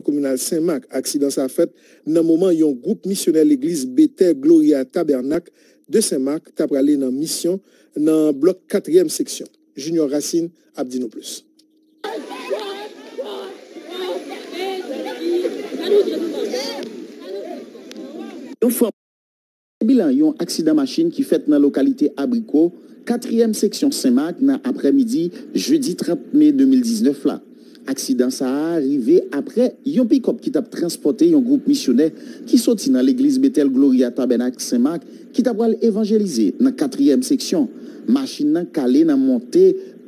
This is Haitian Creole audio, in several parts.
Kominal Sen Mak, aksidan sa fèt nan moman yon gwoup misyonè legliz Betè Gloria Tabènak de Sen Mak ta prale nan misyon nan blòk katriyèm seksyon. Junior Racine ap di nou plis. Se bilan yon aksidan machin ki fèt nan lokalite Abriko, katriyèm seksyon Sen Mak nan aprè midi jedi 30 me 2019 la. Aksidan sa a rive aprè yon pikòp ki t ap transpòte yon gwoup misyonè ki soti nan legliz Betèl Gloria Tabènak Sen Mak ki ta pral evanjelize nan katriyèm seksyon, machin nan kale nan monte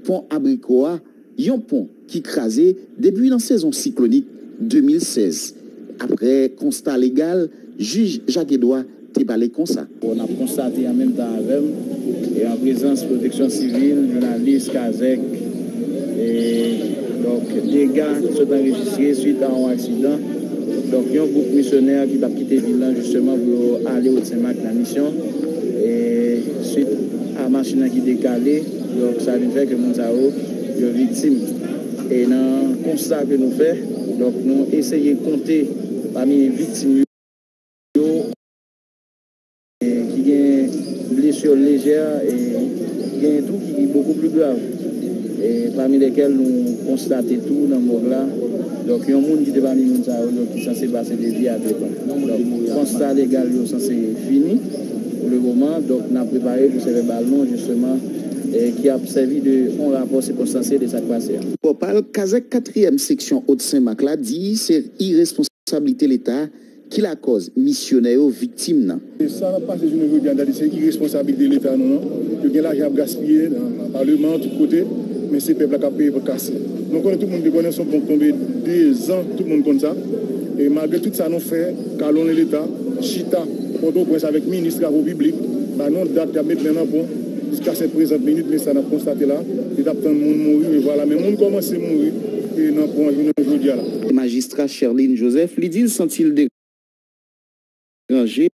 pon Abriko a. Yon pon ki kraze depi nan sezon siklonik 2016, aprè konsta legal jij Jacques Edouard te pale konsa. Bon, nap konstate an menm tan avèm e an prezans pwoteksyon sivil, jounalis, kazèk e donk dega ki sot anrejistre swit a yon aksidan donk yon gwoup misyonè ki tap kite vil lan jisteman pou yo ale Wòtsenmak nan misyon e swit a machin lan ki dekale. Donk sa vin fè ke moun sa yo, yo viktim. E nan konsta ke nou fè, donk nou eseye konte pami viktim yo, gen ki gen blessure légère e gen tou ki beaucoup plus grave. E pami lesquels nou konstate tou nan mòg la, donk yon moun ki te pami moun sa yo, donk ki sanse pase de vie a depan. Donk konsta legal yo sanse fini. Pou le moman, donk, n ap prepare pwosè vèbal nou jisteman ki ap sèvi de yon rapò sikonstansye de sa k pase a. Pòpal, Kazèk katriyèm seksyon Haute Sen Mak la di se iresponsablite Leta ki lakòz misyonè yo viktim nan. Sa k ap pase jounen jodi an dadi se iresponsablite Leta nou an. Yo gen lajan y ap gaspiye nan paleman, tout kote, men se pèp la k ap peye pòt kase. Nou konnen, tout moun te konnen, s on pon k tonbe dezan, tout moun konn sa. E malgre tout sa nou fè, kalonnen Leta, chita. Pòtoprens avèk minis travo piblik ba nou dat yap met men nan pon jiska sèt prezant minit men sa nap konstate la yo tap tann moun mouri men vwala men moun kòmanse mouri nan pon an jounen jodia la. Majistra Sherline Joseph li di l santi l deranje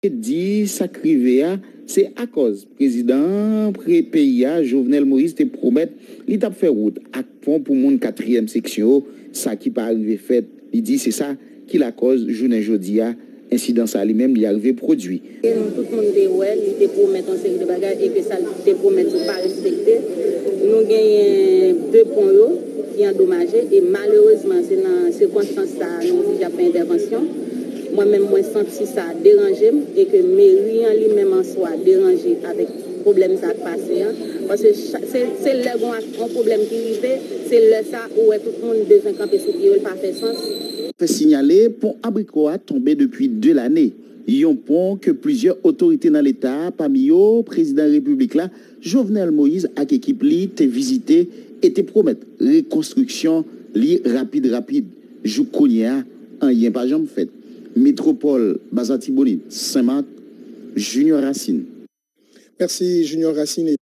di sa k rive a se akòz prezidan peyi a Jovenel Moïse te pwomèt li tap fè wout ak pon pou moun katriyèm seksyon sa ki pa rive fèt li di se sa ki lakòz jounen jodi a ensidan sa li menm li arive pwodui. E nou tout moun te wè li te pwomèt yon seri de bagay e ke sa l te pwomèt li pa respekte. Nou genyen 2 pon yo ki andomaje e malerezman se nan sikonstans sa a nou di y ap fè entèvansyon. Mwen menm mwen santi sa deranje m e ke meri an li menm an swa deranje avèk. pwoblèm sa ap pase an paske se lè gon yon pwoblèm ki rive se lè sa ou wè tout moun bezwen kanpe sou pye yo l pa fè sans. Fè sinyale pon Abriko a tonbe depi 2 lane, yon pon ke plizyè otorite nan leta pami yo prezidan repiblik la Jovenel Moïse ak ekip li te vizite e te pwomèt rekonstriksyon li rapid rapid. Jouk kounye a, anyen pa janm fèt. Metropole, Bas Atibonit, Sen Mak, Junior Racine. Mèsi Junior Racine.